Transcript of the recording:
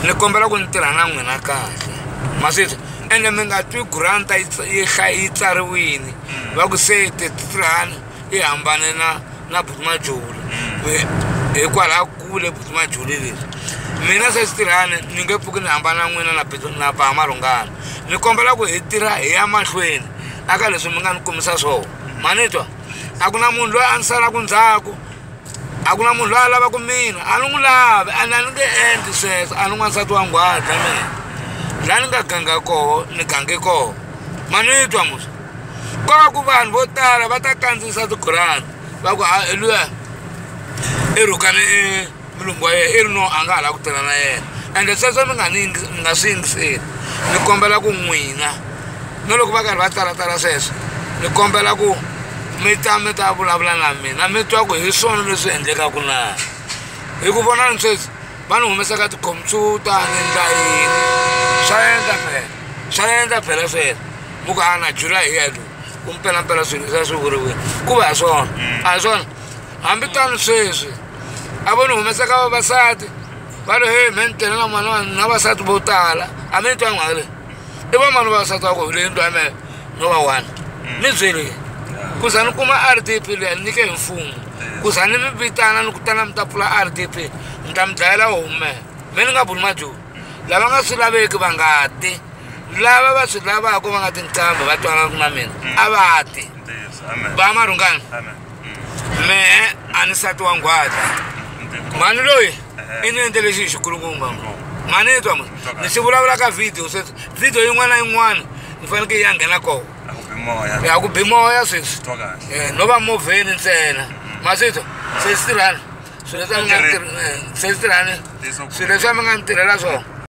ni kombela ku ni tirha na n'wina kahle ma swi twa ende mi nga twi granta yi tsa- yi hla- yi tsariwini va ku se tetitlan yi hambane na na butimajuli hikwalaho kule butimajuli leri mina se sitirhani ni nge pfuki ni hambana na n'wina na Bit- na bahamalungana ni kombela ku hi tirha hi ya mahlweni aka leswi mi nga ni kumisa swona ma ni twa a ku na munhu loyi a ni salaku ndzhaku a ku na munhu loyi a lavaka mina a ni n'wi lavi a ni a ni nge endli sweswo a ni n'wansati wa nghwaza mina laha ni nga ganga koho ni gange koho ma ni twa musa ko va ku vanhu vo tala va ta kandziyisa ti-grant va ku ha luya i rhukane i mulungu wa yena i ri no a nga ha lava ku tirha na yena ende sweswo ni nga ni ni nga swi yingiseli ni kombela ku n'wina. na loko va karhi va tsalatsala sweswo ni kombela ku mi ta mi ta vulavula na mina mi twa ku hi swona leswi endlekaka na hi ku vona ni sweswi va ni humesaka tikhompyuta ni ndla yini swa endla phela swa endla phela sweswo mu ku ana july hi yalo ku mpelampela swilo leswi a swi vuriwile ku va hi swona mm. a hi swona hambi tani sweswi a vo ni humesaka vavasati va lo he me ni tele na mwana na vasati vo tala a mi ni twa nghale i van'wana va sata ku leyi ndwa me no va one ni byele ku za ni kuma r d p leyi nyike hi mfumo ku za ni mi vitana ni kutana mi ta pfula r d p ni ta mi dlayela homu me me ni nga buli majoni lava nga swi laveki va nga ti lava va swi lavaka va nga ti nqambi va twanana ku na mina a va ti ba marhungani me a ni sati wa nghwata mhani loyi i ni endle lexi hi xikulungumba mhani yi twa mhani ni xi vulavula ka video sweswi video yin'wana na yin'wana ni faneke yi ya nghena koho ya ku bi moya sweswi eh, no va movheni ntsena maswitwa se swi tirhani swilo leswi a mi nga ni tirhela swona